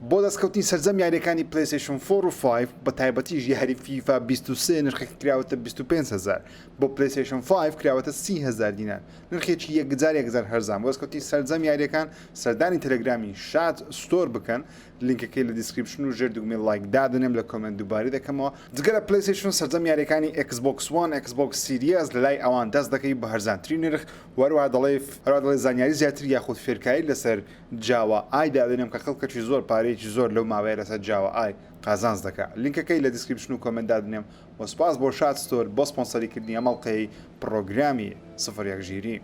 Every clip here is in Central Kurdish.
بۆ دەستکەوتنی سەرجەم یاریەکانی پلەیستەیشن فۆر و فایڤ بە تایبەتیش یاری فیفا بیست و سێ نرخەکە کراوەتە بیست و پێنج هەزار بۆ پلەیستەیشن فایڤ کراوەتە سی هەزار دینار نرخێکی یەکجار یەکجار هەرزان بۆ دەستکەوتنی سەرجەم یاریەکان سەردانی تەلەگرامی شاد ستۆر بکەن لینکەکەی لە دیسکریپشن و ژێر دوگمەی ڵایک دادەنێم لە کۆمێنت دووبارەی دەکەمەوە جگە لە پلەیستەیشن سەرجەم یاریەکانی ئێکس بۆکس وان ئێکس بۆکس سیریەس لە لای ئەوان دەست دەکەی بە هەرزانترین نرخ و هەروەها دەڵێی هەروەها دەڵێی زانیاری زیاتر یاخود فێرکاری لەسەر جاوا ئای دادەنێم کە خەڵکەکی زۆر پارەیەکی زۆر لەو ماوەیە لەسەر جاوا ئای قازانج دەکا لینکەکەی لە دیسکریپشن و کۆمێنت دادەنێم وە سوپاس بۆ شاد ستۆر بۆ سپۆنسەری کردنی ئەم ئەڵقەیەی پڕۆگرامی سفر یەک ژیری.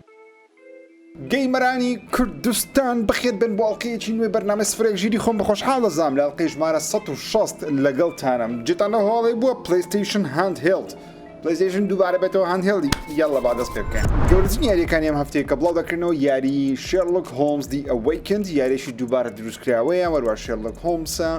گەیمەرانی کوردستان بەخێر بێن بۆ ئەڵقەیەکی نوێی بەرنامەی سفر یەک ژیری خۆم خۆشحاڵ دەزانم لە ئەڵقەی ژمارە سەد و شەست لەگەڵتانم جێتان لەو هەواڵەی بووە پلەیستەیشن هاند هێڵد پلەیستەیشن دووبارە بێتەوە هاندهێڵدی یاڵڵە با دەست پێ بکەین گەورەترین یاریەکانی ئەم هەفتەیە کە بڵاو دەکردنەوە یاری شێرلک هۆمز دی ئەوەیکند یاریشی دووبارە دروستکراوەیە وەروە شێرلک هۆمسە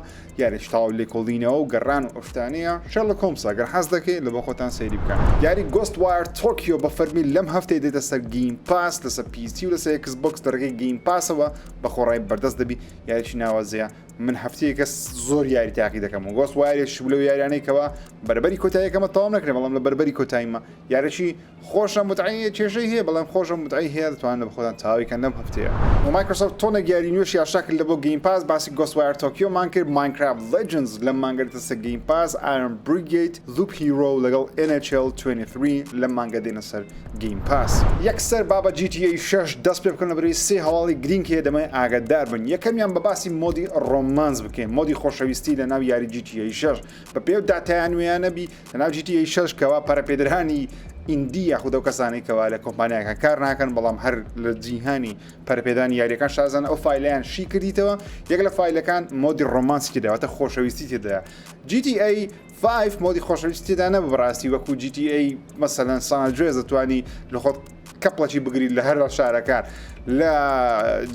یاریش تاو لێکۆڵینەوە و گەڕان و ئەفتانەیە شێرلک هۆمسە گەر حەز دەکەی لە بۆ خۆتان سەیری بکەن یاری گۆست وایر تۆکیۆ بە فەرمی لەم هەفتەی دێتە سەر گیم پاس لەسەر پیسی و لەسەر کس بکس دەرگەی گیم پاسەوە بە خۆڕای بەردەست دەبی یاریی ناوازەیە من هەفتەیەکە زۆر یاری تاقی دەکەم و گۆست وایرێک شو لەو یاریانەی کەوا بەربەری کۆتاییەکەمە تەواو نەکرێ بەڵام لە بەربەری کۆتاییمە یارەشی خۆشە متعەیە کێشەی هەیە بەڵام خۆشە متعەی هەیە دەتوانن لە خۆتان تاویکەن لەم هەفتەیە و مایکرۆسۆفت تۆنێک یاری نوێشی ئاشا کرد لە بۆ گەیم پاس باسی گۆست وایر تۆکیۆمان کرد ماینکرافت لیجنز لەم مانگە دەتەسە گەیم پاس ئایرۆن بریگەید لوپ هیرۆ لەگەڵ NHL 23 لەم مانگە دێنە سەر گەیم پاس. یەکسەر با بە جی تی ئەی شەش دەست پێ بکەن لەبەرەی سێ هەواڵی گرینگ هەیە دەمەوێ ئاگەدار بن یەکەمیان بە باسی مۆدی ڕۆمانس بکەین مۆدی خۆشەویستی لە ناو یاری جی تی ئەی شەش بە پێ و داتایان نوێیانە بی لە ناو جی تی ئەی شەش کەوا پەرە پێدرانی ئیندی یاخود ئەو کەسانەی کەوا لە کۆمپانیاکان کار ناکەن بەڵام هەر لە جیهانی پەرپێدانی یاریەکان شازان ئەو فیلیان شی کردیتەوە یەک لە فیلەکان مۆدی ڕۆمانسکی داواتە خۆشەویستی تێدا جیتی ئەی فایڤ مۆدی خۆشەویستی تێدا نەبوو بەڕاستی وەکو جی تی ئەی مەسەلەن سانجوێز دەتوانی لە خۆت کەپڵەکی بگری لە هەر شارەکان لە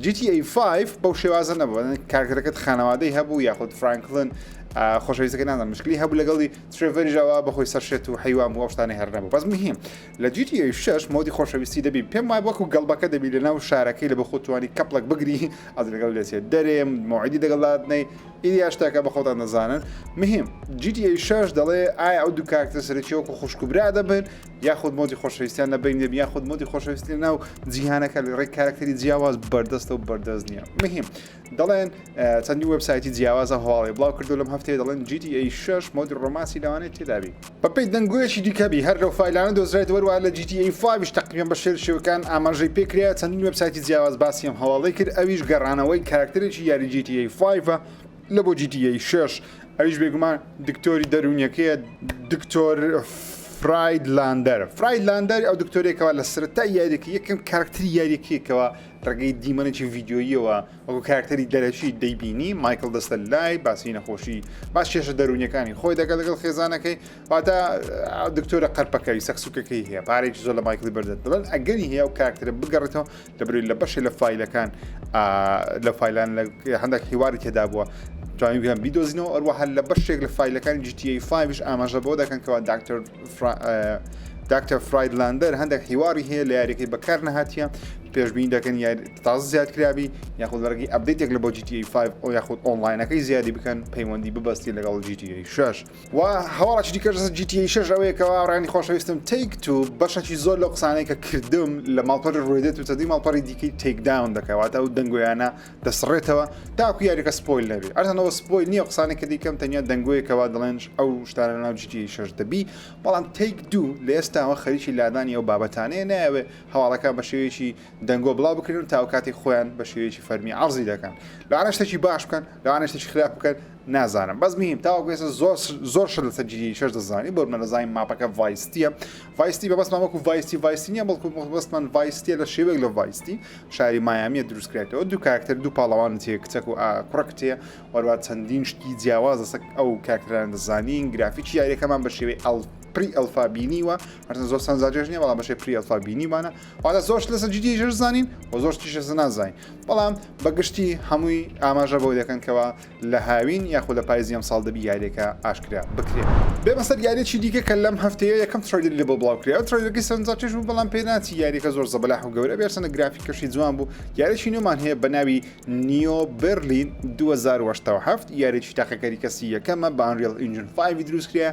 جی تی ئەی فایڤ بەو شێوازە نەبوو کارکەرەکەت خانەوادەی هەبوو یاخود فرانکلن خۆشەویستەکە نازان مشکلی هەبوو لەگەڵی ترێڤەریژەوە بەخۆی سەرشێت و حیوان بۆ شتانی هەر نەبوو بەس مهم لە جی تی ئەی شش مۆدی خۆشەویستی دەبی پێم وای وەکو گەڵبەکە دەبی لە ناو شارەکەی لە بە خۆتوانی کەپڵەک بگری ئەز لەگەڵ لێسێ دەرێم مۆعیدی دەگەڵاتنەی ئیدی ئەش تاکە بە خۆتان دەزانن مهم GTA شش دەڵێ ئایا ئەو دوو کارکتە سەرەکی وەکو خوشک و برا دەبن یاخود مۆدی خۆشەویستیان لە بین دەبی یاخود مۆدی خۆشەویستی ناو جیهانەکە لە ڕێک کارکتەری جیاواز بەردەستە و بەردەست نییە مهم دەڵێن چەندی وەبسایتی جیاوازە هەواڵی بڵاو کردو لەم هەفتەیە دەڵێن GTA شش مۆدی ڕۆماسی لەوانێت تێدابی بەپێی دەنگۆیەکی دیکە بی هەر لەو فایلانە دۆزرایەوە هەروەها لە جی تی ئەی فایڤ یش تەقریبەن بە شێل شێوەکان ئاماژەی پێ کرایە چەندین وێبسایتی جیاواز باسی ئەم هەواڵەی کرد ئەویش گەڕانەوەی کاراکتەرێکی یاری جی تی ئەی فایڤ لە بۆ جی تی ئەی شەش ئەویش بێگومان دکتۆری دەروونیەکەیە دکتۆر فراید لاندەر فراید لاندەر ئەو دکتۆرێکەوە لە سەرەتای یاریەکە یەکەم کاراکتەری یاریەکەیەکەوە ڕێگەی دیمەنێکی ڤیددیوییەوە وەکو کاراکتەری دەرەکی دەیبینی مایکل دەستە لای باسی نەخۆشی باش کێشە دەرونیەکانی خۆی دەگەل لەگەڵ خێزانەکەی واتە دکتۆرە قەرپەکەوی سەکسوکەکەی هەیە پارێکی زۆر لە مایکلی بەردەت دەڵێن ئەگەری هەیە و کاراکتەرە بگەڕێتەوە دەبرێت لە بەشێ لە فیلەکان لە فیلان لە هەندێک هیواری تێدا بووە توانیان بیدۆزینەوە ئەروە هەر لە بەشێک لە فیلەکانی جیتیفاویش ئاماژە بۆ دەکەن کەوا داکتەر داکتەر فرایدلاندەر هەندێک حیواری هەیە لە یاریەکەی بەکار نەهاتە پێشبین دەکەن یا تازە زیاد کرابی یاخود لەڕگی ئەبدیتێک لە بۆ GTA 5 ئەو یاخود ئۆنلاینەکەی زیادی بکەن پەیوەندی ببستی لەگەڵ GTA 6 و هەواڵی دیکەش GTA 6 ئەوەیەکەوە ڕانی خۆشەویستم تیک تو بەشەکی زۆر لەو قسانەی کە کردم لە ماڵپەر ڕێدێت و چەندی ماڵپەری دیکەی تێکداون دەکەواتە ئەو دەنگۆیانە دەسڕێتەوە تاکو یاریەکە سپۆیل نەبێ ئەرتەنەوە سپۆیل نییە قسانێک کە دیکەم تەنیا دەنگۆیەکەوا دەڵێنش ئەو شتانە ناو جدی شەش دەبی بەڵام تیک دوو لە ئێستاوە خەریکی لادانی ئەو بابەتانەیە نایەوێ هەواڵەکان بە شێوەیەکی دەنگۆ بڵاو بکرێن و تاو کاتێک خۆیان بە شێوەیەکی فەرمی عەرزی دەکەن لەوانە شتێکی باش بکەن لەوانە شتێکی خراپ بکەن نازانم بەس میم تاوەکو ئێستا زۆر زۆر شت لەسەر جدی شەش دەزانی بۆ منە دەزانین ماپەکە ڤایستیە ڤایستی بە بەسمان وەکو ڤایستی ڤایستی نیە بەڵکو بەسمان ڤایستیە لە شێوەیەک لە ڤایستی شاری مایامیە دروستکرایتەوە دوو کارکتەر دوو پاڵەوان تێ کچەک و کوڕە کتێ وەروە چەندین شتی جیاواز لەسەک ئەو کارکتەران دەزانین گرافیکی یاریەکەمان بە شێوەی ئەڵ پری ئەلفا بینیوە هەرزە زۆر سانزاجێژ نیە بەڵام بەشێ پری ئەلفا بینیمانە وادا زۆرش لەسە جدی ژەر زانین و زۆر تیشە زنازین بەڵام بەگشتی هەمووی ئاماژە بۆ دەکەنکەوە لە هاوین یاخود لە پایزی ئەمساڵ دەبی یاریەکە ئاشکرا بکرێت. بێمە سەر یاریەکی دیکە کە لەم هەفتەیە یەکەم ترەیلەری لەبۆ بڵاو کرا ئەو ترەیلەرەکەی سەرنجا کێش بوو بەڵام پێ ناچی یاریەکە زۆر زەبەلاح و گەورە بێ هەرچەندە گرافیکەشی جوان بوو یاریەکی نوێمان هەیە بە ناوی نیۆ بێرلین دوو هەزار و هەشتا و حەفت یاریەکی تاقیکاری کەسی یەکەمە بە ئەنریڵ ئینجن فایڤی دروست کرایە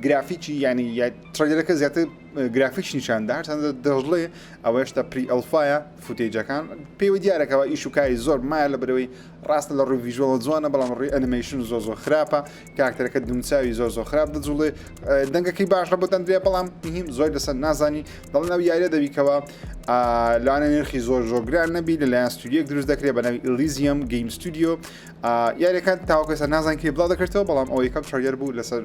گرافیکی یانی ترەیلەرەکە زیاتر گرافیکش نیشان دا هەرچەندە دەشڵێ ئەوە هێشتا پری ئەڵفایە فوتێجەکان پێوە دیارە کەوا ئیش و کاری زۆر مایە لەبەرەوەی ڕاستە لە ڕووی ڤیژۆڵە جوانە بەڵام ڕووی ئەنیمەیشن زۆر زۆر خراپە کاکتەرەکە دومچوی زۆر زۆر خراپ دەجوڵێ دەنگەکەی باشە بۆ دەندرێ بەڵام هیم زۆر لەسەر نازانی دەڵ ناو یاە دەبیکەوە لەوانە نرخی زۆر زۆر گران نەبی لەلایەن ستودیەک دروست دەکرێت بە ناوی ئلیزیەم گەیم ستودیو یاریەکان تاوکەسە نازان کێ بڵاو دەکرێتەوە بەڵام ئەوەی کەم چاریار بوو لەسەر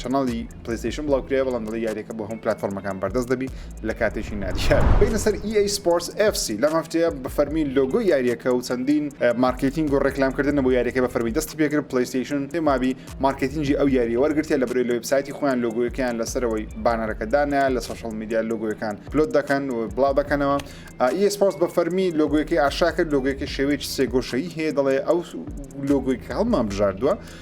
چناڵی پلەیستەیشن بڵاوکرایە بەڵام دەڵێ یاریەکە بۆ هەموو پلاتفۆرمەکان بەردەست دەبی لە کاتێکی نادیار بینە سەر EA Sports FC لەم هەفتەیە بە فەرمی لۆگۆ یاریەکە و چەندین مارکتینگ و ڕێکلامکردن بۆ یاریەکە بە فەرمی دەستی پێکرد پلەیستەیشن مابی مارکتینگی ئەو یاری وەرگرتە لە برێ لە وبسایتی خۆیان لۆگۆیەکەیان لەسەرەوەی بانەرەکە دانە لە سوشل میدیا لۆگۆیەکان پلۆت دەکەن و بڵاو دەکەنەوە EA Sports بە فەرمی لۆگۆیەکەی ئاشاکرد لۆگۆیەکە شێوەیەکی سێگۆشەی هەیە دەڵێ ئەو لۆگۆی کە هەڵمان بژاردووە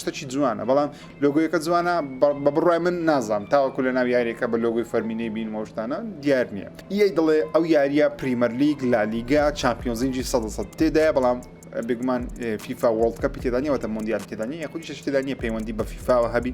شتەکی جوانە بەڵام لۆگۆیەکە جوانە بە بڕای من نازام تاوەکو لە ناو یاریەکە بە لۆگوی فەرمینەی بین وەشتانە دیار نییە یەی دڵێ ئەو یاریە پریمەر لیگ لالیگا چمپیۆنزینجی سە سە تێدایە بەڵام بگومان فیفا وڵد کە پیتێدانیەوەتە مندیال تێدانی یاخودی شتێدانە پەیوەندی بە فیفاوە هەبی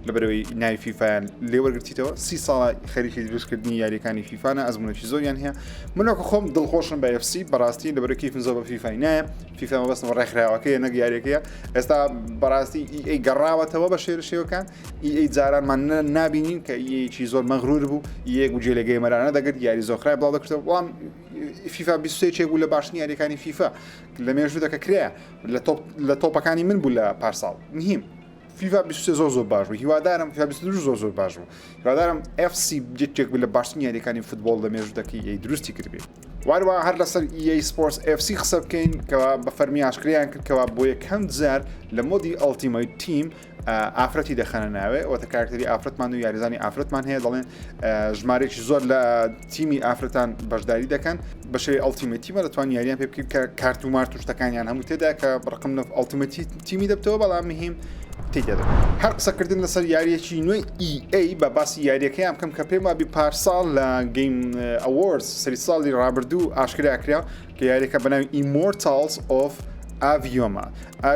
لە بەرەوەی ناوی فیفایان لێوەرگتیتەوە سی ساڵە خەریکی دروستکردنی یاریەکانی فیفاانە ئەزمونەی زۆریان هەیە منۆکە خۆم دڵخۆشم بە FC بەڕاستی لە بەرەکی فنزۆ بە فیفای نایە فیفا مەبەستم ڕێکخراوەکەیە نەک یاریەکەیە ئێستا بەڕاستی ئیئەی گەڕاوەتەوە بە شێر شێوەکان ئیئەی جارانمان نابینین کە یەکی زۆر مەغرور بوو یەک و جێلەگەی مەرانە دەگرت یاری زۆخرای بڵاو دەکرێت وڵام فیفا بیسێکێک بوو لە باشنی یاریەکانی فیفا لە مێژوو دەکە کرێ لە تۆپەکانی من بوو لە پارساڵ نهیم فیفا بیسێ زۆر زۆر باش بوو هیوادارم فیفا زۆر زۆر باش بوو هیوادارم FC یەکێک بوو لە باشترین یاریەکانی فوتبۆڵ لە مێژوو دەکەی دروستی کردبێت. وهروەها هەر لەسەر EA Sports FC قسە بکەین کە بە فەرمی ئاشکریان کرد کەوا بۆ یەکەم جار لە مۆدی ئەڵتیمەیت تیم ئافرەتی دەخەنە ناوێ ئەوتە کارکتری ئافرەتمان و یاریزانی ئافرەتمان هەیە دەڵێن ژمارێکی زۆر لە تیمی ئافرەتان بەشداری دەکەن بەشێ ئەڵتیمەتیمە دەتوان یاریان پێ بکرد کە کارت و مارت و شتەکانیان هەموو تێدا کە بڕقم نف ئەڵتیمەتی تیمی دەبتەوە بەڵام مهیم تی دەبێت هەر قسەکردن لەسەر یاریەکی نوێی ئەی بە باسی یاریەکەیان بکەم کە پێم وابی پارساڵ لە گەیم ئەوەرز سەری ساڵی ڕابردوو ئاشکرا کرا کە یاریەکە بەناوی ئیمۆرتالز ئۆف ئاڤیۆما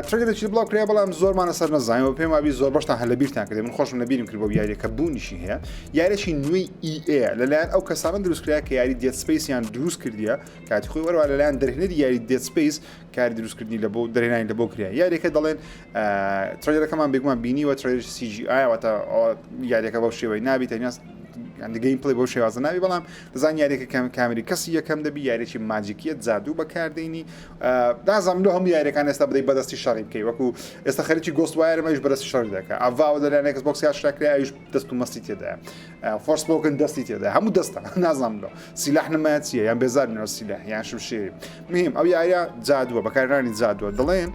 ترگەدەچی بڵاو کرا بەڵام زۆرمان لەسەر نەزانانی و پێم وابی زۆر بەشتان هە لە بیرتان کردێ من خۆشم لە بیرم کرد بۆ یاریەکە بوونیشی هەیە یاریی نوێی ئیئەیە لەلایەن ئەو کەسانە دروستکرا کە یاری دێت سپیسیان دروست کردیە کاتی خۆی وەروە لەلایەن دەرهێنەری یاری دێت سپیس کاری دروستکردنی لە بۆ درێنانی لە بۆ کریا یاریەکە دەڵێن ترێلەکەمان بێگومان بینی وە ترێش سیجی ئاواتە یاریەکە بەو شێوەی نابی تەنیاست گەین پلی بۆ شێوازە ناوی بەڵام دەزان یاریەکە کەم کامری کەسی یەکەم دەبی یاریی ماجیکیە جادو بەکاردێنی دازانم لە هەموو یاریەکان ئێستا بدەی بەدەستی شەڕی بکەی وەکو ئێستا خەرکی گۆست وایرمەش بەرەستی شەڕی دەکە ئەڤاوە دەلانێکس بۆکسیا شراکرای ئەوش دەست و مەستی تێدایە فۆرسپۆکن دەستی تێدا هەموو دەستە نازانم لەو سیلاح نمایە چیە یان بێزارنەوە سیلاح یان شمشێری میم ئەو یاریە جادووە بەکارانی جادووە دەڵێن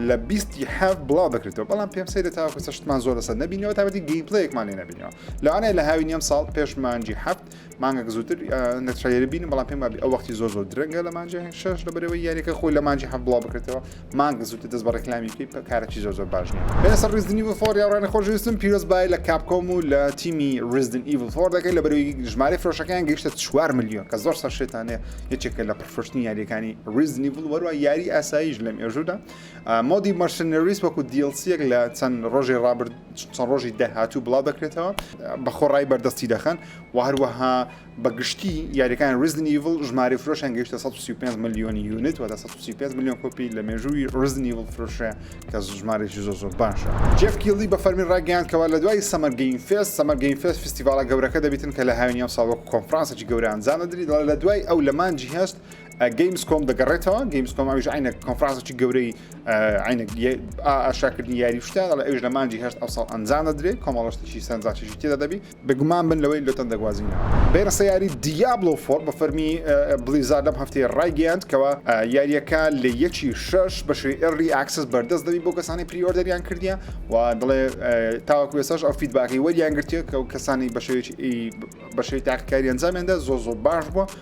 لە بیستی حەف بڵاو دەکرێتەوە بەڵام پێم سەیرە تاوەکو چەشتمان زۆر لەسەر نبینەوە تابەتی گەیمپلەیەکمان لێ نبینەوە لەوانەیە لە هاوی نیەم ساڵ پێش مانجی حەفت مانگەک زووتر نەترێ بینم بەڵام پێم بابی ئەو وەختی زۆر زۆر درەنگە لە مانجی شش لە بەرەوەی یاریەکە خۆی لە مانجی حەف بڵاو بکرێتەوە مانگە زووتر دەست بە ڕێکلامی بکەی پە کارەکی زۆر زۆر باش نییە بێنە سەر ڕیزدنی وفۆر یاڕانە خۆشویستم پیرۆز بای لە کاپکۆم و لە تیمی ڕیزدن ئیڤل فۆر دەکەی لە بەروی ژمارە فرۆشەکان گەیشتە 4 میلیۆن کە زۆر سەرشێتانێ یەکێکە لە پرفرشتنی یاریەکانی ڕیزنی بڵ وەروە یاری ئاساییش لەم ێژودا مۆدی مەرسنەریس وەکو دیلسیەک لە چەند ڕۆژی ڕابرد چەند ڕۆژی داهاتوو بڵاو دەکرێتەوە بە خۆڕای بەردەستی دەخەن و هەروەها بە گشتی یاریەکان ریزنیڤل ژماری فرۆشیان گەشتە 135 ملیۆنی یونت وە 135 ملیۆن کۆپی لە مێژووی ریزنیڤل فرۆشە کە ژمارێکی زۆ زۆر باشە جفکیلی بە فەرمی ڕاگەیاندکەوە لە دوای سەمەرگەین فێست سەمەرگەین فێست فستیڤالە گەورەکە دەبیتن کە لە هاوینی ئەو ساوە کۆنفرانسێکی گەورە ئەنجام دەدری دەڵێت لە دوای ئەو لە مانجی هەست گەیمز کۆم دەگەڕێتەوە گەیمز کۆم ئەوش عینە کۆنفرانسێکی گەورەی عینە ئاشاکردنی یاری شتە لە ئەوش لە مانجی هەست ئەو ساڵ ئەنجام دەدرێت کۆمەڵشتێکی سەنجاشی تێدا دەبی بێگومان من لەوەی لوتەن دەگوازینەوە. بەیرەسە یاری دیابلۆ فۆر بە فەرمی بلیزارد لەم هەفتەیە ڕایگەیاند کەوا یاریەکە لە یەکی شەش بەشی ئێرلی ئاکسس بەردەست دەبی بۆ کەسانی پری ئۆردەریان کردیە و دڵێ تاوەکو ئێساش ئەو فیدباکەی وەریان گرتیە کە و کەسانی بەشێوی بەشەی تاقیکاری ئەنجامیاندا زۆ زۆ باش بووە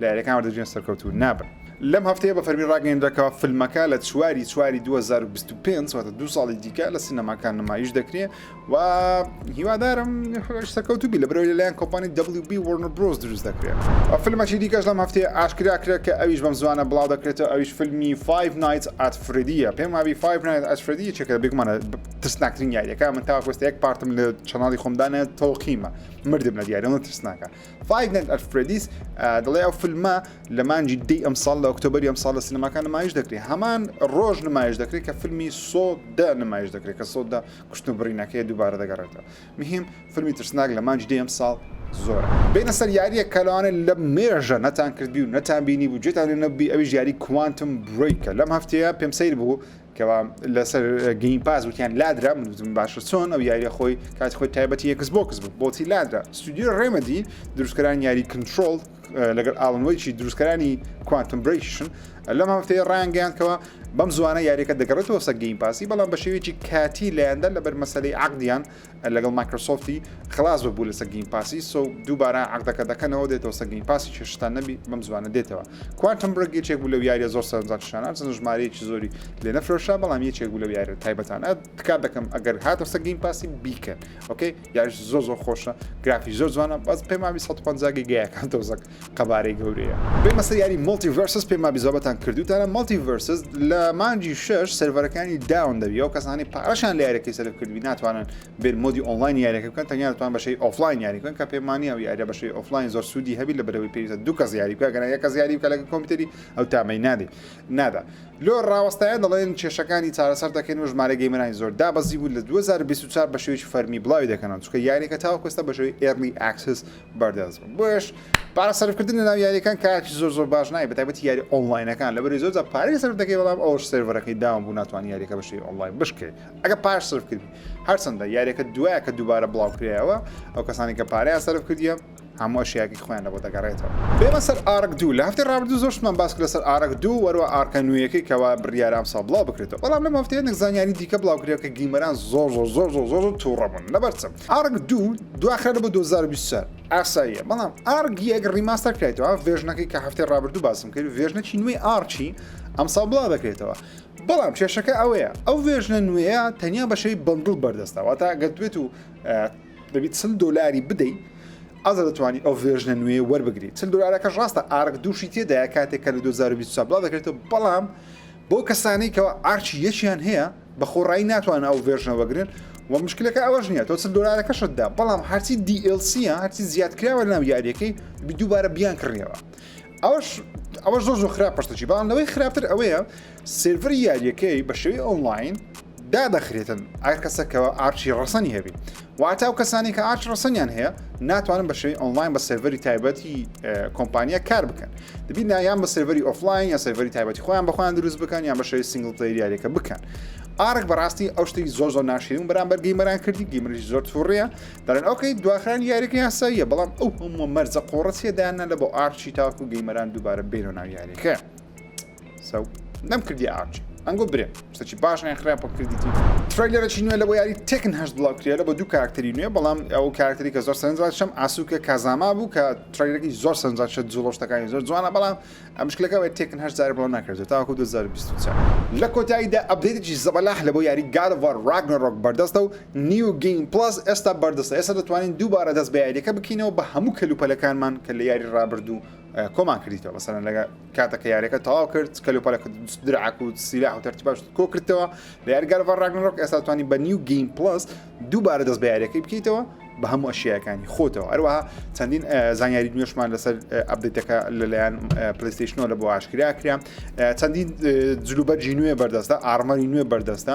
لە یاریەکان وەردەگرن سەرکەوتوو نابن. لەم هەفتەیە بە فەرمی ڕاگەیەندرا کە فیلمەکە لە چواری چواری دوو هەزار و بیست و پێنج واتە دوو ساڵی دیکە لە سینەماکان نمایش دەکرێ و هیوادارم سەرکەوتوو بی لە برەوەی لەلایەن کۆمپانی WB Warner Bros دروست دەکرێت ئەو فیلمەکی دیکەش لەم هەفتەیە ئاشکرا کرێت کە ئەویش بەم زوانە بڵاو دەکرێتەوە ئەویش فیلمی Five Nights at Freddyە پێم وابی Five Nights at Freddy چێکە بێگومانە ترسناکترین یاریەکە من تاوەکۆستە یەک پارتم لە چەناڵی خۆمدانە تەوقیمە مردم لە دیارەوە ترسناکە فایڤ نایت ئەت فرێدیس دەڵێ ئەو فیلمە لە مانجی دی ئەمساڵ لە ئۆکتۆبری ئەمساڵ لە سینەماکان نمایش دەکرێت هەمان ڕۆژ نمایش دەکرێت کە فیلمی سۆدا نمایش دەکرێت کە سۆدا کوشتن بڕینەکەی دووبارە دەگەڕێتەوە مهم فیلمی ترسناک لە مانج دی ئەمساڵ زۆر بینە سەر یاریە کەلوانە لە مێژە نەتان کردبی و نەتان بینی بوو جێتان نەبی ئەوی یاری کوانتم بریکە لەم هەفتەیە پێم سیر بوو کەوا لەسەر گەیم پاس وتیان لادرا من وتم باشە چۆن ئەو یاریە خۆی کاتی خۆی تایبەتی یەکس بۆکس بوو بۆچی لادرا ستودیو ڕێمەدی دروستکەران یاری کنترۆڵ لەگەر ئاڵنوەیکی دروستکەرانی کوانتم برێکیشن لەم هەفتەیە ڕانگەیانکەوە بەم زوانە یاریەکە دەگەڕێتەوە سە گەیم پاسی بەڵام بە شێوێکی کاتی لایەندا لەبەر مەسلەی عقدیان لەگەڵ مایکرۆسۆفتی خلاص ببوو لەسە گەیم پاسی سو دووبارە عقدەکە دەکەنەوە دێتەوە سە گەیم پاسی چێشتان نەبی بەم زوانە دێتەوە کوانتم برگ یەکێک بوو لەو یاریە زۆر سەرنجان شانان چەند ژمارەیەکی زۆری لێ نەفرۆشا بەڵام یەکێک بوو لەو یاریە تایبەتان ئە تکات دەکەم ئەگەر هاتەوە سە گەیم پاسی بیکەن ئۆکەی یاریش زۆر زۆر خۆشە گرافی زۆر جوانە بەس پێماوی 150 گیگایەکان تۆزەک قەبارەی گەورەیە. بێمە سەر یاری مۆڵتی ڤێرسس پێم مابی زۆربەتان کردوتانە مۆڵتی ڤێرسس لە مانگی شەش سێرڤەرەکانی داون دەبی ئەو کەسانی پارەشان لە یارەکەی سەرف کردبی ناتوانن بێن مۆدی ئۆنلاین یاریەکە بکەن تەنیا دەتوان بەشەی ئۆفلاین یاری بکەن کە پێماننیە ئەو یاریە بەشەی ئۆفلاین زۆر سوودی هەبی لە بەرەوەی پێویستە دوو کەس یاری بکە گەنا یەک کەس یاری بکە لەگە کۆمپیوتەری ئەو تامەی نادی نادا لۆ ڕاوەستایە دەڵێن کێشەکانی چارەسەر دەکەین و ژمارە گەیمەرانی زۆر دابەزی بوو لە 2024 بە شێوەیەکی فەرمی بڵاوی دەکەنەوە چونکە یاریەکە تاوەکو ئێستا بە شێوەی ئێرلی ئاکسس بەردەست بن بۆیەش پارە سەرفکردن لەناو یاریەکان کارێکی زۆر زۆر باش نای بەتابەتی یاری ئۆنلاینەکان لەبەری زۆر پارەی سەرف دەکەی بەڵام ئەوش سێرڤەرەکەی داوام بوو ناتوانانی یاریەکە بەشی ئۆنلاین بشکێ ئەگە پاش سرف کردی هەرچەندە یاریەکە دوایە کە دووبارە بڵاوکرایەوە ئەو کەسانی کە پارەیان سەرف کردیە هەموو شیاکی خۆیان لە بۆ دەگەڕێتەوە بێمە سەر ئارک دوو لە هەفتی ڕابردوو زۆرشمان باس لەسەر ئارک دوو وەروە ئارکە نوێیەکەی کەوا بڕیارام سا بڵاو بکرێتەوە بەڵام لەم هەفتەیە نەک زانیاری دیکە بڵاو کرێ کە گیمەران زۆر زۆر زۆر زۆر زۆر تووڕەبوون لەبەرچم ئارک دوو دواخرا بۆ 2024 ئاساییە بەڵام ئارک یەک ڕیماستەر کرێتەوە ڤێژنەکەی کە هەفتەی ڕابردوو باسم کرد ڤێژنەکی نوێی ئارچی ئەمساڵ بڵا دەکرێتەوە بەڵام کێشەکە ئەوەیە ئەو ڤێژنە نوێە تەنیا بەشەی بەندڵ بەردەستەوە تا گەتوێت و دەبیت چل دلاری بدەیت ئازە دەتوانانی ئەو ڤێژنە نوێ وەربگری چل دلارەکەش ڕاستە ئارک دووشی تێدایە کاتێک کە لە 2020 بڵا دەکرێتەوە بەڵام بۆ کەسانێکەوە ئارچی یەکیان هەیە بە خۆڕایی ناتوان ئەو ڤێرژنە وەگرن و مشکلەکە ئەوەش نیە تۆ چل دۆلارەکەشت دا بەڵام هەرچی دیLCە هەرچی زیادکراوە ناو یاریەکەی دووبارە بیان کڕیەوە ئەوش ئەوە زۆر زۆر خراپ پشتەچی بەڵام لەوەی خراپتر ئەوەیە سێڤەر یاریەکەی بە شێوی ئۆنلاین دادەخرێتن ئەر کەسەکەەوە ئارچی ڕسەنی هەبی واتە ئەو کەسانەی کە ئارچ ڕەسەنیان هەیە ناتوانن بە شێوی ئۆنلاین بە سێڤەری تایبەتی کۆمپانیا کار بکەن دەبی نایان بە سێڤەری ئۆفلاین یا سێڤەری تایبەتی خۆیان بەخۆیان دروست بکەن یان بە شێوی سنگل پلی یاریەکە بکەن ئارک بەڕاستی ئەو شتی زۆر زۆر ناشرین بەرامبەر گەیمەران کردی گیمریش زۆر تووڕە دەرن ئەوکەی دواخران یاریەکە یاساییە بەڵام ئەو هەموو مەرزە قۆڕەتیە دایانە لە بۆ ئارچی تاکو گەیمەران دووبارە بێنەوە ناو یاریەکە. سەو نەم کردی ئاچ ئەنگۆ برێ سەچی باش ئەیان خراپ بە کردیتی ترەیلەرەی نوێ لە بۆ یاری تەکن هەش بڵاو کرێ لە بە دوو کاراکتەری نوێ بەڵام ئەو کاراکتەری کە زۆر سەرنجات شەم ئاسوکە کازاما بوو کە ترەیلەکی زۆر سەرنجات شە جوڵۆشتەکانی زۆر جوانە بەڵام ئەمشکلەکە بە تەکن هەش زار بڵاو ناکردێت تاکو 2024 لە کۆتاییدا ئەبدێتێکی زەبەلاح لە بۆ یاری گادڤار راگنۆرۆک بەردەستە و نیو گەیم پڵەس ئێستا بەردەستە ئێستا دەتوانین دووبارە دەست بە یاریەکە بکەینەوە بە هەموو کەلوپەلەکانمان کە لە یاری رابردوو کۆمان کردیتەوە مەسەلەن لەگە کاتە کە یاریەکە تەواو کرد کەل و پەلەکە درعک و سیلاح و تەرتی باش کۆ کردەوە لە یارگەرەوە ڕاگنڕۆک ئێستا توانی بە نیو گەیم پلس دووبارە دەست بە یاریەکەی بکەیتەوە بە هەموو ئەشیەکانی خۆتەوە ئەروەها چەندین زانیاری نوێشمان لەسەر ئەبدەکە لەلایەن پلیستیشنەوە لە بۆ ئاشکرا کرا چەندین جلوبەرجی نوێ بەردەستە ئارمەری نوێ بەردەستە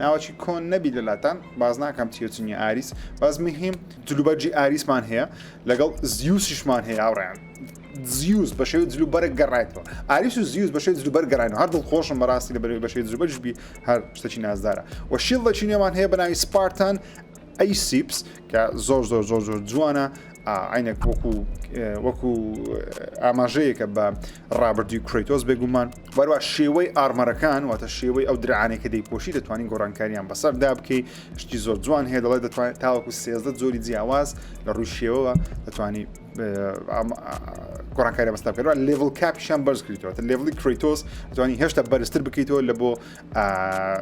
ناوەکی کۆن نەبی لەلاتان باز ناکەم چیە چ نیە ئاریس باز مهم جلوبەرجی ئاریسمان هەیە لەگەڵ زیوسیشمان هەیە ئاڕیان زیوس بە شێوی جلو بەرە گەڕایتەوە ئاریس و زیوس بەشێ جلو بەر گەڕین هەر دڵ خۆشم بەڕاستی لە بەرەوەی بەشێ جلوبەرجبی هەر شتەکی نازدارە و شیڵ لە چینێمان هەیە بەناوی سپارتان ئەی سیپس کە زۆر زۆر زۆر زۆر جوانە عینەک وەکو وەکو ئاماژەیەکە بە ڕابردووی کرەیتۆس بێگومان وەروا شێوەی ئارمەرەکان واتە شێوەی ئەو درعانێک کە دەیپۆشی دەتوانین گۆڕانکاریان بەسەر دا بکەی شتی زۆر جوان هەیە دەڵێت دەتوانێت تاوەکو سێزدە زۆری جیاواز لە ڕووی شێوەوە دەتوانی گۆڕانکاری بەستا بکەوە لێڤل کاپیشان بەرز کردەوە لێڤلی کرەیتۆس دەتوانانی هێشتا بەرزتر بکەیتەوە لە بۆ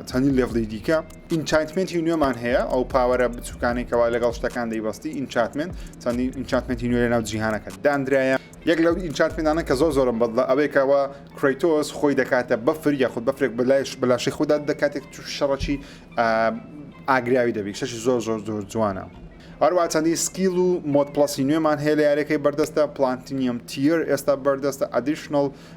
چەندین لێڤلی دیکە ئینچانتمنتی نوێمان هەیە ئەو پاوەرە بچووکانی کەوا لەگەڵ شتەکان دەیبستی ئینچاتمنت چەندین ئینچاتمنتی نوێ لە ناو جیهانەکە دانراە یەک لەو ئینچانتمێنتانە کە زۆر زۆرم بەدڵە ئەوەیە کە وا کرەیتۆس خۆی دەکاتە بەفر یاخود بەفرێک بە لایش بە لاشەی خۆدا دەدا کاتێک تووشی شەڕەکی ئا ئاگراوی دەبی شەشی زۆر زۆر زۆر جوانە هەروەها چەندین سکیل و مۆد پڵەسی نوێمان هەیە لە یاریەکەی بەردەستە پلانتینیەم تیەر ئێستا بەردەستە ئەدیشنڵ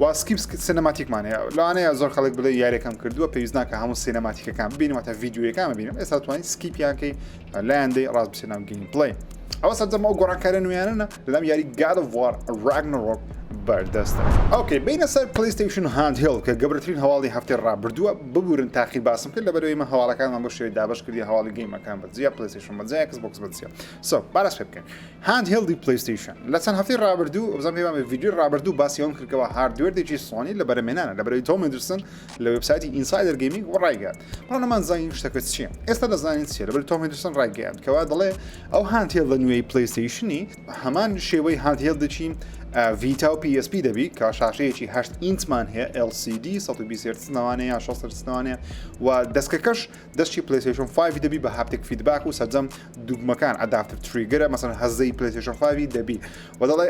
وە سکیپ سینەماتیکمان هەیە لەوانەیە زۆر خەڵک بڵێ یاریەکەم کردووە پێویست ناکە هەموو سینەماتیکەکان ببینم واتە ڤیددیوەکان ببینم ئێستا توانین سکیپیانکەی لایەندەی ڕاست بچێت ناو گەیم پڵی ئەوە سەرجەم ئەو گۆڕانکارە نوێیانە لەلام یاری گاد وار ڕاگنڕۆک بەردەستە ئەوکەی بینە سەر پلیستیشن هاند هێڵ کە گەورەترین هەواڵی هەفتەی ڕابردووە ببورن تاقی باسم کرد لە بەرەوەی من هەواڵەکانمان بۆ شوێ دابش کردی هەواڵی گەیمەکان بەجیا پلیستیشن بەجیا کەس بۆکس بەجیا سۆ بارەش بکەین هاند هێڵدی پلەیستەیشن لە چەند هەفتەی ڕابردوو بزانام پێوان بە ڤیدیۆی ڕابردوو باسی ئەوم کردەوە هاردوێردێکی سۆنی لە بەرەمێنانە لە بەرەوەی تۆم مندرسن لە وبسایتی ئینسایدەر گەیمینگ و ڕایگەیان بەڵام نەمان زانین شتەکە چییە ئێستا دەزانین چیە لەبەر تۆم مندرسن ڕایگەیان کەوا دەڵێ ئەو هاندهێڵ لە نوێی پلەیستەیشنی هەمان شێوەی هاندهێڵ دەچین ڤیتا و PSP دەبی کە شاشەیەکی هەشت ئینچمان هەیە LCD 120 ناوانەیە یا 16 ناوانەیە و دەستکەکەش دەستی پلەیستەیشن 5 دەبی بە هاپتێک فیدباک و سەرجەم دوگمەکان ئەداپتر تریگەرە مەسەن هەزەی پلەیستەیشن 5 دەبی و دەڵێ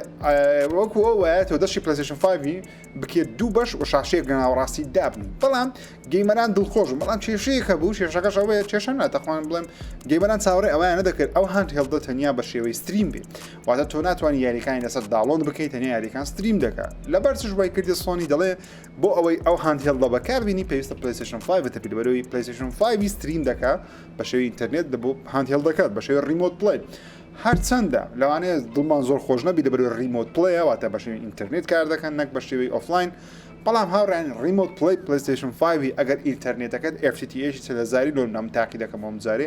وەکو ئەو وایە تۆ دەستی پلەیستەیشن 5 بکێت دوو بەش و شاشەیەک لە ناوەڕاستی دابن بەڵام گەیمەران دڵخۆش بەڵام کێشەیەکە بوو شێشەکەش ئەوەیە کێشە ناتەخوان بڵێم گەیمەران چاوەڕێ ئەویان نەدەکرد ئەو هاند هێڵدە تەنیا بە شێوەی ستریم بێت واتە تۆ ناتوانانی یاریەکانی لەسەر داڵۆن بکەیت تەنیا یاریەکان ستریم دەکات لەبەر چش وای کردی سۆنی دەڵێ بۆ ئەوەی ئەو هاندهێڵدە بەکاربینی پێویستە پلیسشن 5 تەپیل بەرەوەی پلیسشن 5 ستریم دەکە بە شێوی ئینتەرنێت دەبوو هاندهێڵ دەکات بە شێوی ریمۆت پلی هەرچەندە لەوانەیە دڵمان زۆر خۆش نەبی لە بەرەوەی ریمۆت پلیە واتە بە شێوی ئینتەرنێت کار دەکەن نەک بە شێوی ئۆفلاین بەڵام هاوڕێن ریمۆت پلی پلیسشن 5 ئەگەر ئینتەرنێتەکەت FTTH سەلزاری لۆ نام تاقی دەکەمەوە جارێ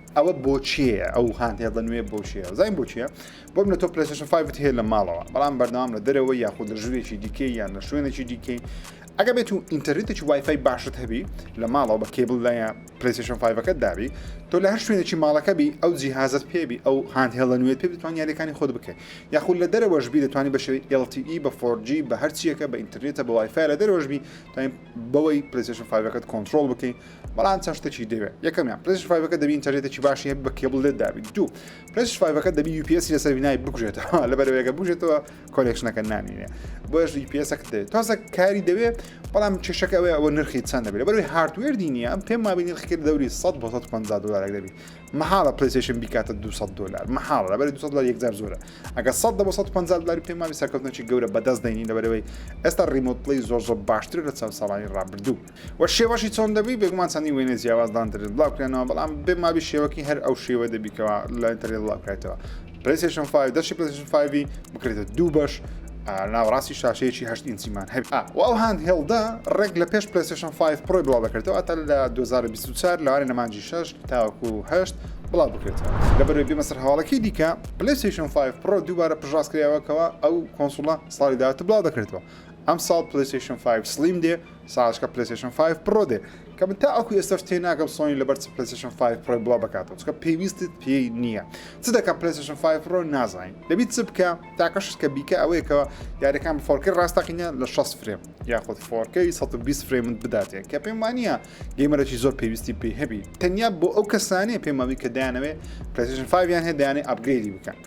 ئەوە بۆچیەیە ئەو هاندهێڵدە نوێ بۆچیە زین بۆچیە بۆم لە تۆ پلسشن فیت هەیە لە ماڵەوە بەڵام بەردەوام لە دەرەوە یاخود لە ژوورێکی دیکە یان لە شوێنێکی دیکەی ئەگە بێت و ئینتەرنێتێکی وایفای باشت هەبی لە ماڵەوە بە کێبل لایە پلیسشن فیڤەکەت دابی تۆ لە هەر شوێنێکی ماڵەکە بی ئەو جیهازت پێبی ئەو هاند هێڵە نوێت پێ بتوان یاریەکانی خۆت بکەیت یاخود لە دەرەوەشبی دەتوانانی بەشێ LTE بە فۆرجی بە هەرچیەکە بە ئینتەرنێتە بە وایفای لە دەرەوەشبی تایم بەوەی پلیسشن فیڤەکەت کۆنتترۆل بکەیت بەڵام چەند شتێکی دەوێت یەکەمیان پرس فایڤەکە دەبی ئینتەرێتێکی باشی هەبی بە کێبڵ لێت دابی دوو پرس فایڤەکە دەبی یوپسی لەسەر بینای بکوژێتەوە لە بەرەوەیەکە بژێتەوە کۆلێکشنەکە نامینێ بۆش یوپسەک دەێت تازە کاری دەوێت بەڵام کێشەکە ئەوێ ئەوە نرخی چەند دەبێت بەروی هاردوێر دینە پێم مابی نرخکرد دەوری 100 بۆ 150 دلارێک دەبی مەحاڵە پلیسیشن بیکاتە 200 دلار مەحاڵ لە بەری 200 دلار یەکجار زۆرە ئەگە 100 بۆ 150 دلاری پێم مابی سەرکەوتنەکی گەورە بەدەست دەینی لەبەرەوەی ئێستا ریمۆت پلی زۆر زۆر باشتر لە چەند ساڵانی ڕابردوو وە شێوەشی چۆن دەبوی بێگومان چەندین وێنەی جیاواز لە ئەنتەرنێت بڵاو کرێنەوە بەڵام بێ مابی شێوەکی هەر ئەو شێوە دەبی کەوا لە ئەنتەرنێت بڵاو کرایتەوە پلەیسێشن 5 دەشی پلەیسێشن 5 بکرێتە دوو بەش ناوەڕاستی شاشەیەکی هەشت ئینچیمان هەبێت و ئەو هاند هێڵدە ڕێک لە پێش پلەیسێشن 5 پڕۆی بڵاو دەکرێتەوە ئەتا لە 2024 لەوانەیە لە مانگی 6 تاوەکو 8 بڵاو بکرێتەوە لەبەرەوەی بێمە سەر هەواڵەکەی دیکە پلەیسێشن 5 پڕۆ دووبارە پشتڕاست کراوە کەوا ئەو کۆنسوڵە ساڵی داهاتوو بڵاو دەکرێتەوە ئەمساڵ پلەیسێشن 5 سڵیم دێ ساعەتەکە پلەیستەیشن فایڤ پڕۆ دێ کە من تاوەکو ئێستاش تێناگەم سۆنی لەبەر چ پلەیستەیشن فایڤ پڕۆی بڵاو بکاتەوە چکە پێویستت پێی نییە چ دەکەم پلەیستەیشن فایڤ پڕۆ نازانین دەبی چ بکە تاکە شت کە بیکە ئەوەیە کە یاریەکان بە فۆرکەی ڕاستەقینە لە شەست فرێم یاخود فۆرکەی سەد و بیست فرێمت بداتێ کە پێم وا نییە گەیمەرێکی زۆر پێویستی پێی هەبی تەنیا بۆ ئەو کەسانەیە پێمەوی کە دایانەوێ پلەیستەیشن فایڤیان هەیە دەیانێ ئەپگرێدی بکەن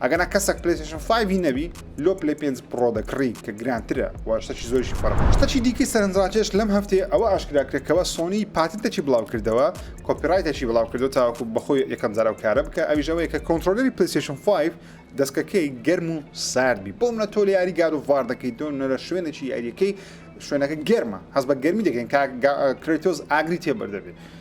ئەگەنا کەسەک پلەیستشن 5 هی نەبی لۆ پلی 5 پڕۆ دەکڕی کە گرانترە و شتەکی زۆرشی فەرق شتەکی دیکەی سەرنجڕاکێش لەم هەفتەیە ئەوە ئاشکرا کرێکەوە سۆنی پاتنتەکی بڵاو کردەوە کۆپیڕایتەکی بڵاو کردو تاوەکو بەخۆی یەکەم جار ئەو کارە بکە ئەویش ئەوەیە کە کۆنترۆلەری پلەیستشن 5 دەستکەکەی گەرم و سارد بی بۆ منە تۆ لە یاری گاد و ڤار دەکەی تۆ نەرە شوێنێکی یاریەکەی شوێنەکە گەرمە هەز بە گەرمی دەکەین کاک کرێتۆز ئاگری تێبەر دەبێت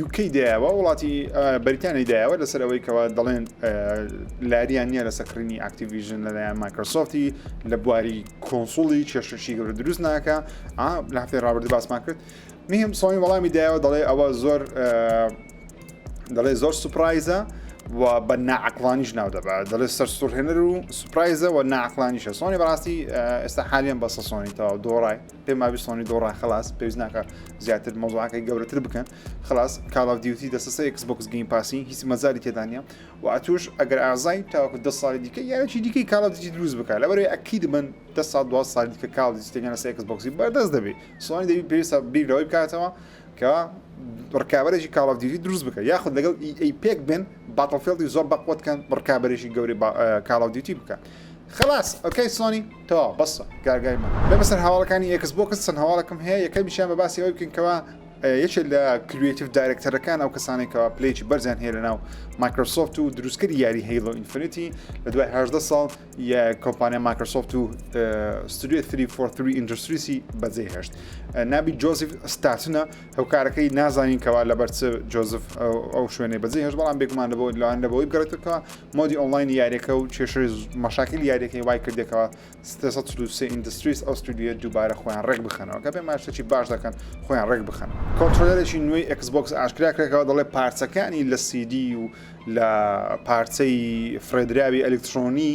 یوکەی دایەوە وڵاتی بەریتانی دایەوە لەسەر ئەوەی کەەوە دەڵێن لاریان نییە لەسەر کڕینی ئاکتیڤژن لەلایەن مایکرۆسۆفتی لە بواری کۆنسوڵی کێشەشی گەورە دروست ناکە لە هەفتەی ڕابرد باسمان کرد میم سۆنی وەڵامی دایەوە دەڵێ ئەوە زۆر دەڵێ زۆر سوپرایزە و بە ناعقلانیش ناو دەبا دەڵێ سەر سوورهێنەر و سوپرایزە و ناعقلانیشە سۆنی بەڕاستی ئێستا حالیان بەسە سۆنی تەواو دۆڕای پێم وابی سۆنی دۆڕا خلاص پێویست ناکە زیاتر مۆزوعەکەی گەورەتر بکەن خلاص کاڵ ئاف دیوتی دەسەسە ئکس بۆکس گەیم پاسی هیچ مەزاری تێدانە و ئەتوش ئەگەر ئازای تاوەکو دە ساڵی دیکە یاچی دیکەی کاڵ دیجی دروست بکە لە بەرەوەی ئەکید من دە ساڵ دو سال دیکە کاڵ دیستێگەن لە سێکس بۆکسی بەردەست دەبێت سۆنی دەبی پێویستە بیر لەوەی بکاتەوە کە ڕکابەرێکی کاڵ ئاف دیوتی دروست بکە یاخود لەگەڵ ئی پێک بن باتڵفێڵدی زۆر بەقوەتکەن ڕکابەرێکی گەوری کاڵ ئاف دیوتی بکە خلاص ئۆکەی سۆنی تەواو بەسە گارگای من. بێمە سەر هەواڵەکانی ئێکس بۆکس چەند هەواڵێکم هەیە یەکەمیشیان بە باسی ئەوەی بکەین کەوا یەکێک لە کریتیڤ دایرەکتەرەکان ئەو کەسانێک کەوا پلەیەکی بەرزیان هەیە لە ناو مایکرۆسۆفت و دروستکردی یاری هەیڵۆ ئینفینیتی لە دوای هەدە ساڵ کۆمپانیا مایکرۆسۆفت و ستودیو 343 ئینجستریسی بەجێ هێشت نابی جۆزیف ستاتنە هۆکارەکەی نازانین کەوا لەبەر چ جۆزف ئەو شوێنەی بەجێ هێش بەڵام بێگومان لەبەوە لەوان لەبەوەی بگەڕێتەوە مۆدی ئۆنلاین یاریەکە و کێشەی مەشاکل یاریەکەی وای کردێکەوە 323 ئینندستریس ئەو ستودیوە دووبارە خۆیان ڕێک بخەنەوە کە پێ ماشتەکی باش دەکەن خۆیان ڕێک بخەن کۆنتترۆلەرێکی نوێی ئەکسبکس ئاشکرا کرێکەوە دەڵێ پارچەکانی لە سیدی و لە پارچەی فرێدراوی ئەلکترۆنی